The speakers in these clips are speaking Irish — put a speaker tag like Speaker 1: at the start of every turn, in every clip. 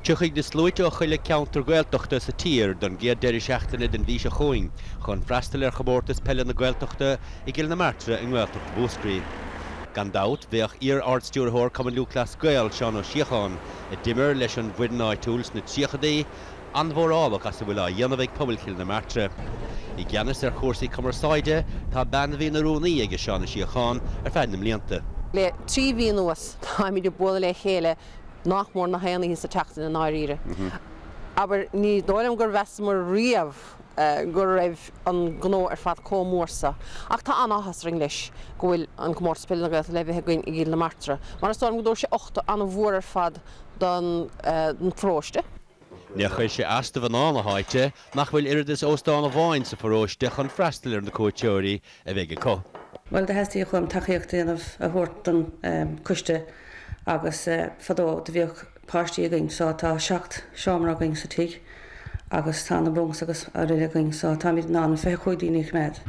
Speaker 1: Tiocfaidh na sluaite ós na haon cheantar Gaeltachta sa tír don gcéad deireadh seachtaine den mhí seo chugainn chun freastal ar Chomórtas Peile na Gaeltachta i gCill na Martra i nGaeltacht Mhúscraí. Gan dabht, bheadh iar-ardstiúrthóir Chumann Lúthchleas Gael, Seán Ó Síocháin, a d'imir leis an bhfoireann áitiúil sna tríochadaí, an-mhórálach as a bhfuil á dhéanamh ag pobal Chill na Martra. I gceannas ar chúrsaí cumarsáide tá bean a bhí ina rúnaí aige Seán Ó Síocháin ar feadh na mblianta. Le trí mhí
Speaker 2: anuas táimid ag bualadh le chéile nach mór na haon oíche sa tseachtain i ndáiríre. Abair, ní dóigh liom gur mheasamar riamh go raibh an gnó ar fad comh mór seo. Ach tá an-áthas orainn leis go bhfuil an Comórtas Peile na Gaeltachta le bheith againn i gCill na Martra mar is dóigh liom go dtabharfaidh sé uchtach an-mhór ar fad don pharóiste. Níor
Speaker 1: chuir sé as do mhná na háite, nach bhfuil oiread is óstán amháin sa pharóiste chun freastal ar na cuairteoirí a bheidh acu. Bhuel, do theastaíos
Speaker 3: chun tacaíocht a dhéanamh a thabhairt don coiste agus fadó do bhíodh páistí againn so tá seacht seomra againn sa tigh agus tá na bunks agus aroile againn so táimid in ann fiche cúig daoine a choimeád.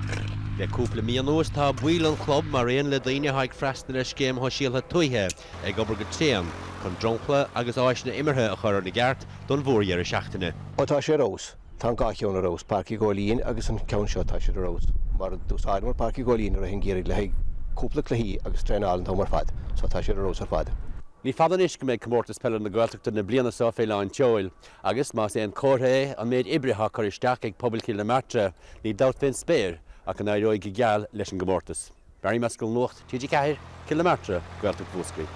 Speaker 3: Le cúpla
Speaker 1: mí anuas tá baill an chlub, mar aon le daoine atá ag freastal ar scéim shoisialtha tuaithe, ag obair go tréan chun dromchla agus áiseanna imeartha a chur ina gceart don mhórdheireadh seachtaine. Ó tá sé ar
Speaker 4: fheabhas. Tá an dhá cheann ar fheabhas, Páirc Uí Ghóilín agus an ceann seo, tá sé ar fheabhas. Mar d'úsáideamar Páirc Uí Ghóilín i rith an gheimhridh le haghaidh cúpla cluichí agus traenáil an t-am ar fad, so tá sé ar fheabhas ar fad. Ní fada anois
Speaker 1: go mbeidh Comórtas Peile na Gaeltachta na bliana seo fé lán tseoil agus, más aon comhartha é an méid oibre atá curtha isteach ag pobal Chill na Martra, níl dabht fén spéir ach go n-éireoidh go geal leis an gcomórtas. Barry Mescal Nuacht TG4, Cill na Martra, Gaeltacht Mhúscraí.